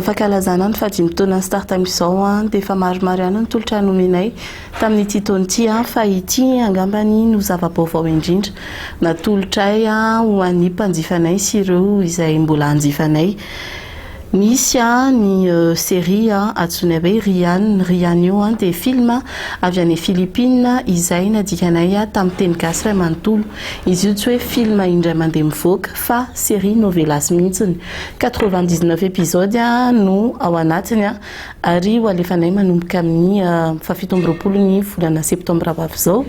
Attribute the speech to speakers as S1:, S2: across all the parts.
S1: Fankalazana ny fahadimy taonan'ny Start amin'izao dia efa maromaro ihany ny tolotra nomenay tamin'ity taona ity fa ity angamba no zava-baovao indrindra natolotray ho an'ny mpanjifanay sy ireo izay mbola hanjifanay. Misy ny série antsoina hoe Rian. Ny Rian io dia film avy any Philippines izay nadikanay tamin'ny teny gasy iray manontolo. Izy io tsy hoe film indray mandeha mivoaka. fa série novelas mihitsiny, quatre-vingt-dix-neuf episode no ao anatiny ary ho alefanay manomboka amin'ny fahafito amby roapolo ny volana septambra ho avy izao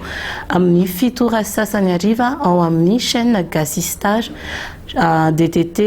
S1: amin'ny fito ora sy sasany hariva ao amin'ny chaîne Gasystar DTT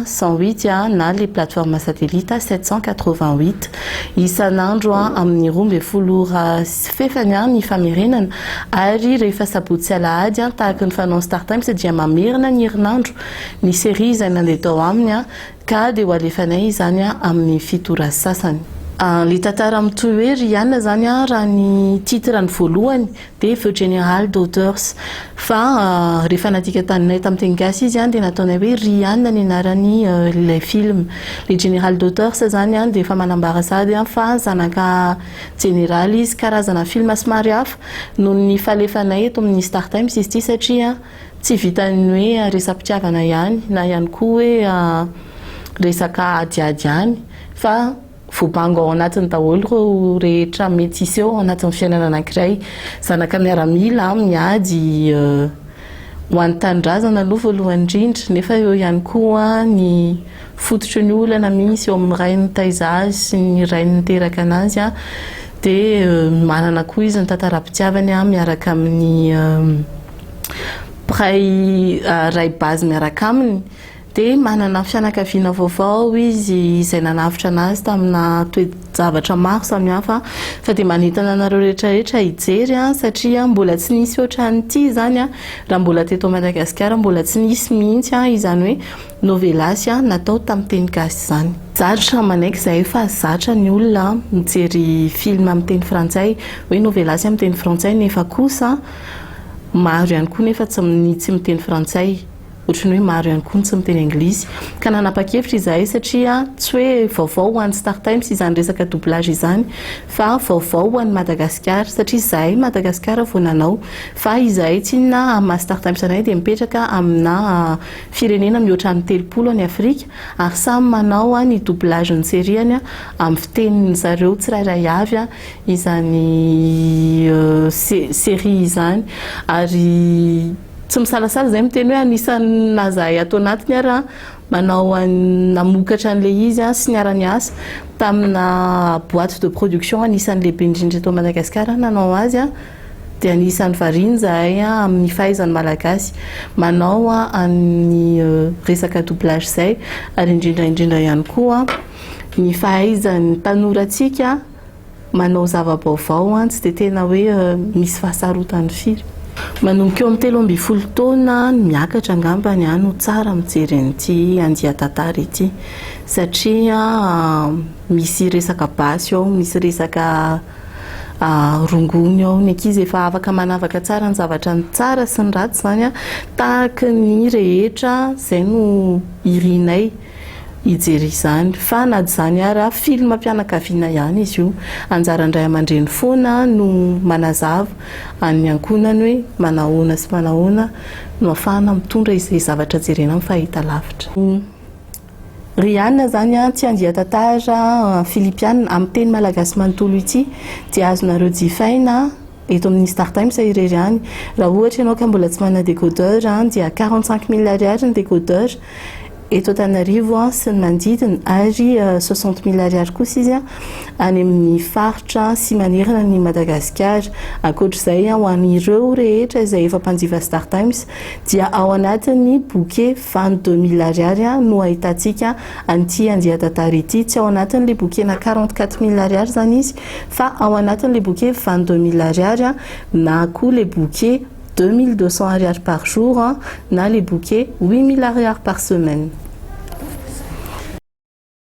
S1: cent huit na le plateforme satellite sept cent quatre-vingt-huit isan'andro amin'ny roa ambin'ny folo ora Tsy fefany an ny famerenana. Ary rehefa sabotsy sy alahady an tahaka ny fanaon'ny startimes dia mamerina ny herinandro ny serie izay mandeha tao aminy an ka dia ho alefanay izany an amin'ny fito ora sy sasany. Ilay tantara mitohy hoe Rihanna izany an raha ny titre ny voalohany dia Feu General Daughters fa rehefa nadika taninay tamin'ny teny gasy izy an dia nataonay hoe Rihanna ny anaran'ny ilay film. Ilay General Daughters izany an dia efa manambara sady an fa zanaka Jeneraly izy, karazana film somary hafa noho ny falefanay eto amin'ny Star Times izy ity satria tsy vitan'ny hoe resa-pitiavana ihany na ihany koa hoe resaka adiady ihany fa voabango ao anatiny daholo ireo rehetra mety hisy eo anatin'ny fiainana anankiray, zanaka miaramila, miady ho an'ny tanindrazana aloha voalohany indrindra nefa eo ihany koa ny fototry ny olana misy eo amin'ny ray nitaiza azy sy ny ray niteraka anazy dia manana koa izy ny tantaram-pitiavany miaraka amin'ny mpiray ray base miaraka aminy dia manana fianakaviana vaovao izy izay nanavotra anazy tamina toe-javatra maro samihafa fa dia manentana anareo rehetra rehetra hijery satria mbola tsy nisy ohatran'ity izany raha mbola teto Madagasikara mbola tsy nisy mihitsy izany hoe Novelas an, natao tamin'ny teny gasy izany. Zatra manaiky izahay fa zatra ny olona mijery film amin'ny teny frantsay, hoe novelas amin'ny teny frantsay nefa kosa maro ihany koa nefa tsy ny tsy miteny frantsay, ohatry ny hoe maro ihany koa ny tsy miteny anglisy. Ka nanapa-kevitra izahay satria tsy hoe vaovao ho an'ny Star Times izany resaka doublage izany fa vaovao ho an'i Madagasikara satria izahay Madagasikara vao nanao fa izahay tsy inona amin'ny maha Star Times anay dia mipetraka amina Firenena mihoatra ny telopolo any Afrika ary samy manao ny doublage ny serie-ny amin'ny fitenin'ny zareo tsirairay avy izany serie izany ary tsy misalasala izay miteny hoe anisan'ny naha zahay ato anatiny ary an manao an namokatra an'ilay izy sy niara-niasa tamina boite de production anisan'ny lehibe indrindra eto Madagasikara nanao azy an. Dia anisan'ny variana izahay amin'ny fahaizan'ny Malagasy manao an'ny resaka doublage izay, ary indrindra indrindra ihany koa ny fahaizan'ny mpanorantsika manao zava-baovao, tsy dia tena hoe misy fahasarotany firy. Manomboka eo amin'ny telo ambin'ny folo taona miakatra angamba no tsara mijery an'ity andian-tantara ity, satria misy resaka basy ao, misy resaka. rongony ao ny ankizy efa afaka manavaka tsara ny zavatra ny tsara sy ny ratsy izany tahaka ny rehetra izay no irinay hijery izany fa na izany ary film mpianakaviana ihany izy io anjaran'ny ray aman-dreny foana no manazava an'ny ankohonany hoe manahoana sy manahoana no afahana mitondra izay zavatra jerena amin'ny fahitalavitra Riana zany an tsy andia tantara filipiana amin'ny teny malagasy manontolo ity dia azonareo jifaina eto amin'ny star times irery any raha ohatra ianao ka mbola tsy manana décodeur an dia quarante cinq mille ariary ny décodeur eto antananarivo sy ny manodidina ary soixante mille ariary kosa izy an any amin'ny faritra sy manerana an'i madagasikara ankoatr'izay an ho an'ireo rehetra izay efa mpanjifa star times dia ao anatin'ny bouquet Vingt deux mille ariary no ahitantsika an'ity andian-tantara ity. Tsy ao anatin'ilay bokena quarante quatre mille ariary izany izy fa ao anatin'ilay boke vingt deux mille ariary na koa ilay boke deux mille deux cents ariary par jour na ilay boke huit mille ariary par semaine.